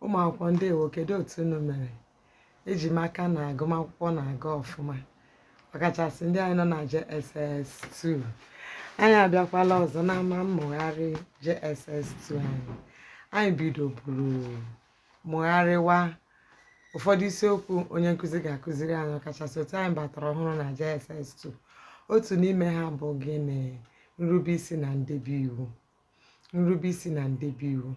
ụmụ akwụkwọ ndewo kedu otu unu mere eji m aka na agụmakwụkwọ na-aga ọfụma ọkachasị ndị anyị nọ na JSS2 anyị abịakwala ọzọ n'ama mmụgharị JSS2 anyị anyị bidoburu mụgharịwa ụfọdụ isiokwu onye nkụzi ga-akụziri anyị ọkachasị otu anyị batara ọhụrụ na JSS 2 otu n'ime ha bụ gịnị nrubeisi na ndebe iwu nrubeisi na ndebe iwu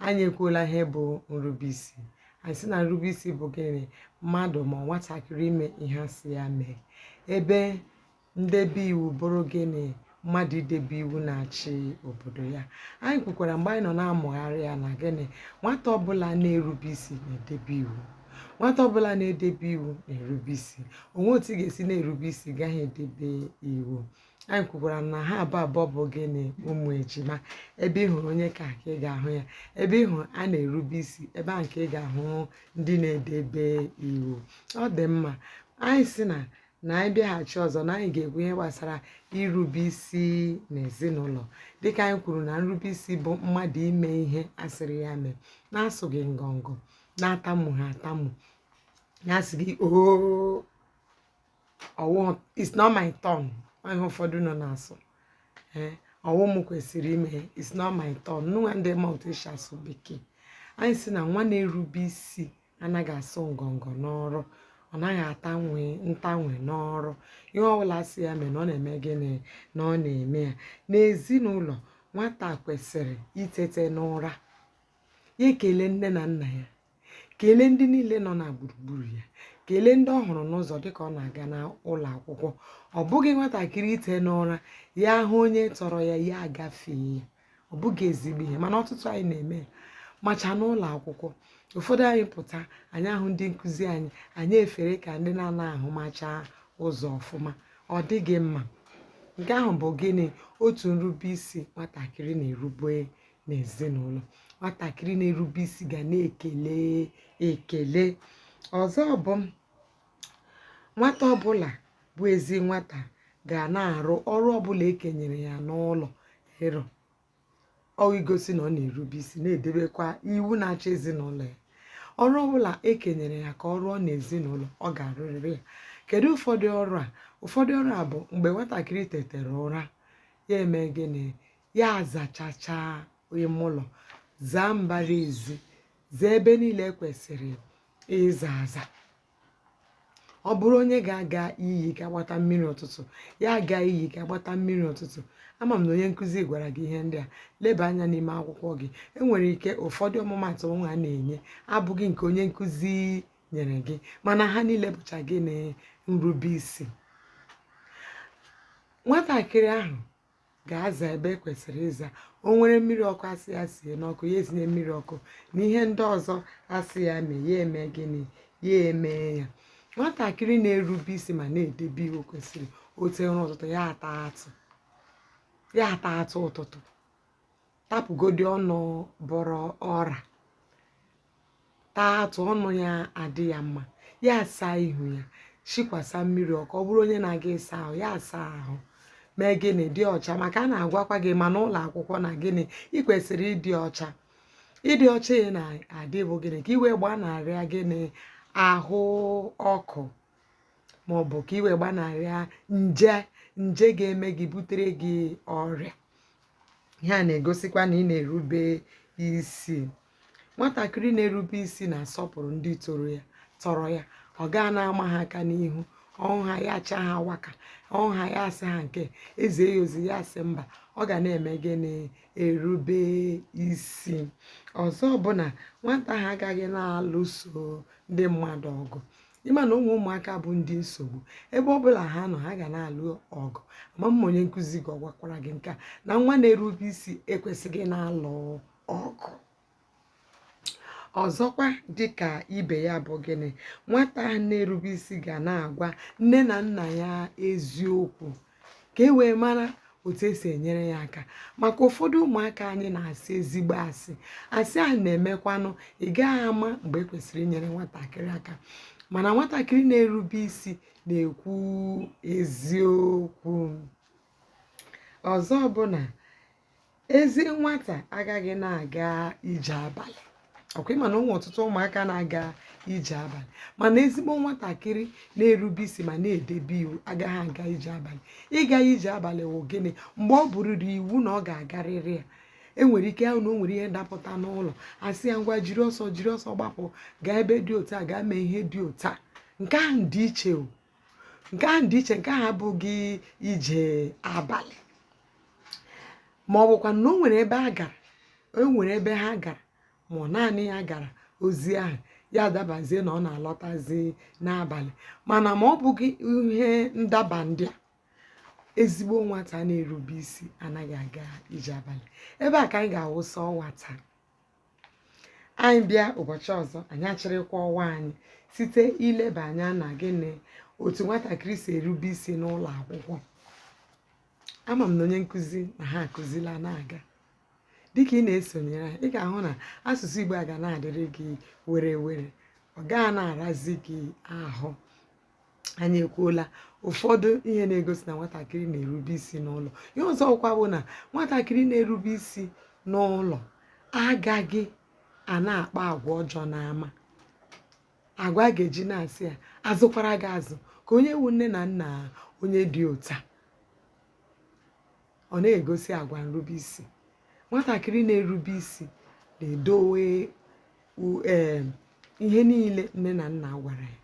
anyị ekwuola ihe bụ nrubeisi anyị sị na nrubeisi bụ gịnị mmadụ ma nwatakịrị ime ihe a sị ya mee ebe ndebe iwu bụrụ gịnị mmadụ idebe iwu na-achị obodo ya anyị kwukwara mgbe anyị nọ na-amụgharị ya na gịnị nwata ọbụla na-erube isi na-edebe iwu nwata ọbụla na-edebe iwu na-erube isi o nweghị otu ị ga-esi na-erube isi gaghị edebe iwu anyị kwukwara na ha abụ abụọ bụ gịnị ụmụ ejima ebe ị hụrụ onye ka ị ga-ahụ ya ebe ị hụrụ a na-erube isi ebe ahụ ka ị ga-ahụ ndị na-edebe iwu ọ dị mma anyị sị na na anyị bịaghachi ọzọ na anyị ga-ekwu ihe gbasara irube isi n'ezinụlọ dịka anyị kwuru na nrube isi bụ mmadụ ime ihe a sịrị ya mee na-asụghị ngọngọ na-atamughị atamu na-asịghị oo ọ wụ it's not my turn ihe ụfọdụ nọ na-asụ ee eh, ọ wụ m kwesịrị ime it's not my turn nwa ndị ma otu e si asụ bekee anyị sị na nwa na-erube isi anaghị asụ ngọngọ n'ọrụ ọ naghị atanwe ntanwe n'ọrụ ihe ọbụla a sị ya mee na ọ na-eme gịnị na ọ na-eme ya n'ezinụlọ nwata kwesịrị itete n'ụra ya ekele nne na nna ya kelee ndị niile nọ na gburugburu ya kelee ndị ọ hụrụ n'ụzọ dịka ọ na-aga n'ụlọ akwụkwọ ọ bụghị nwatakịrị ite n'ụra ya ahụ onye tọrọ ya ya agafee ya ọ bụghị ezigbo ihe mana ọtụtụ anyị na-eme ya macha n'ụlọ akwụkwọ ụfọdụ anyị pụta anyị ahụ ndị nkụzi anyị anyị efere ka ndị na-anaghị ahụmacha ụzọ ọfụma ọ dịghị mma nke ahụ bụ gịnị otu nrube isi nwatakịrị na-erube n'ezinụlọ nwatakịrị na-erube isi ga na-ekele ekele ọzọ bụ nwata ọbụla bụ ezi nwata ga na-arụ ọrụ ọbụla e kenyere ya n'ụlọ ịrụ ọ igosi na ọ na-erube isi na-edebekwa iwu na-achị ezinụlọ ya ọrụ ọbụla e kenyere ya ka ọ rụọ n'ezinụlọ ọ ga-arụrịrị ya kedu ụfọdụ ọrụ a ụfọdụ ọrụ a bụ mgbe nwatakịrị tetere ụra ya eme gịnị ya azachacha ime ụlọ zaa mbara ezi zaa ebe niile kwesịrị ịza aza ọ bụrụ onye ga-aga iyi gaa gbata mmiri ụtụtụ ya aga iyi gaa gbata mmiri ụtụtụ ama m na onye nkụzi gwara gị ihe ndị a leba anya n'ime akwụkwọ gị enwere ike ụfọdụ ọmụmatụ mụwa na-enye abụghị nke onye nkụzi nyere gị mana ha niile bụcha gịnị nrubeisi nwatakịrị ahụ ga-aza ebe e kwesịrị ịza o nwere mmiri ọkụ a sị ya sie n'ọkụ ya esinye mmiri ọkụ na ihe ndị ọzọ a sị ya mee ya eme gịnị ya emee ya nwatakịrị na-erube isi ma na-edebe iwu kwesịrị o tee ụra ụtụtụ ya ata atụ ụtụtụ tapụgodi ọnụ bọrọ ọra taa atụ ọnụ ya adị ya mma ya asaa ihu ya shikwasa mmiri ọkụ ọ bụrụ onye na-aga ịsa ahụ ya asaa ahụ mee gịnị dị ọcha maka a na-agwakwa gị ma n'ụlọ akwụkwọ na gịnị ị kwesịrị ịdị ọcha ịdị ọcha ị na-adị bụ gịnị ka i wee gbanarịa gịnị ahụ ọkụ ma ọ bụ ka i wee gbanarịa nje ga-eme gị butere gị ọrịa ihe a na-egosikwa na ị na-erube isi nwatakịrị na-erube isi na-asọpụrụ ndị tọrọ ya ọ gaa na-ama ha aka n'ihu ọ hụ ha ya acha ha waka ọ hụ ha ya asị ha nke e zie ya ozi ya asị mba ọ ga na-eme gịnị erube isi ọzọ bụ na nwata ahụ agaghị na-alụso ndị mmadụ ọgụ ị ma na o nwere ụmụaka bụ ndị nsogbu ebe ọ bụla ha nọ ha ga na-alụ ọgụ ama m ma onye nkụzi gị ọ gwakwara gị nke a na nwa na-erube isi ekwesịghị na-alụ ọgụ ọzọkwa dịka ibe ya bụ gịnị nwata na-erube isi ga na-agwa nne na nna ya eziokwu ka e wee mara otu esi enyere ya aka maka ụfọdụ ụmụaka anyị na-asị ezigbo asị asị ahụ na-emekwanụ ị gaghị ama mgbe e kwesịrị inyere nwatakịrị aka mana nwatakịrị na-erube isi na-ekwu eziokwu ọzọ bụ na ezi nwata agaghị na-aga ije abalị ọkwa ịma na ụmụ ọtụtụ ụmụaka na-aga ije abalị mana ezigbo nwatakịrị na-erube isi ma na-edebe iwu agaghị aga ije abalị ịga ije abalị wụ gịnị mgbe ọ bụrịrị iwu na ọ ga-agarịrị ya enwere ike a hụ na o nwere ihe dapụta n'ụlọ a sị ya ngwa jiri ọsọ jiri ọsọ gbapụ gaa ebe dị otu a gaa mee ihe dị otu a nke ahụ dị iche o nke ahụ dị iche nke ahụ abụghị ije abalị ma ọ bụkwa na o nwere ebe a gara o nwere ebe ha gara ma ọ naanị ya gara ozi ahụ ya adabazie na ọ na-alọtazi n'abalị mana ma ọ bụghị ihe ndaba ndị a ezigbo nwata na-erube isi anaghị aga ije abalị ebe a ka anyị ga-awụsa ọwa taa anyị bịa ụbọchị ọzọ anyị achịrịkwa ọwa anyị site ileba anya na gịnị otu nwatakịrị si erube isi n'ụlọ akwụkwọ ama m na onye nkụzi na ha akụzila na-aga dịka ị na-esonyere anyị ị ga-ahụ na asụsụ igbo a ga na-adịrị gị were were ọ gaa na-arazi gị ahụ anyị ekwuola ụfọdụ ihe na-egosi na nwatakịrị na-erube isi n'ụlọ ihe ọzọkwa bụ na nwatakịrị na-erube isi n'ụlọ agaghị a na-akpa agwa ọjọọ n'ama agwa a ga-eji na-asị ya a zụkwara gị azụ ka onye wụ nne na nna onye dị otu a ọ na-egosi agwa nrube isi nwatakịrị na-erube isi na-edowe u- em, ihe niile nne na nna gwara ya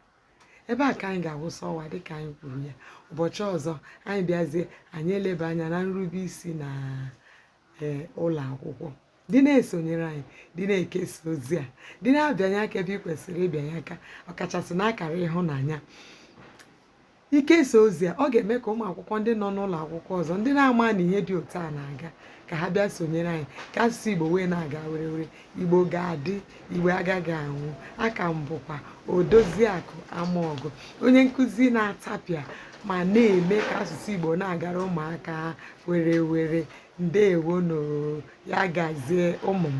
ebe a ka anyị ga-awụsa ọwa dịka anyị kwuru ya ụbọchị ọzọ anyị bịazie anyị eleba anya na nrube isi na eh, ụlọ akwụkwọ dị na-esonyere anyị dị na-ekesa ozi a dị na-abịanye aka ebe ị kwesịrị ịbịanye aka ọkachasị n'akara ịhụnanya ikesa ozi a ọ ga-eme ka ụmụ akwụkwọ ndị nọ n'ụlọ akwụkwọ ọzọ ndị na-ama na ihe dị otu a na-aga ka ha bịa sonyere anyị ka asụsụ igbo wee na-aga were were Igbo ga-adị, Igbo agaghị anwụ. Aka m bụkwa Odoziakụ Amaọgụ, onye nkụzi na-atapịa ma na-eme ka asụsụ Igbo na-agara ụmụaka were were. Ndeewonụ, ya gazie ụmụ m.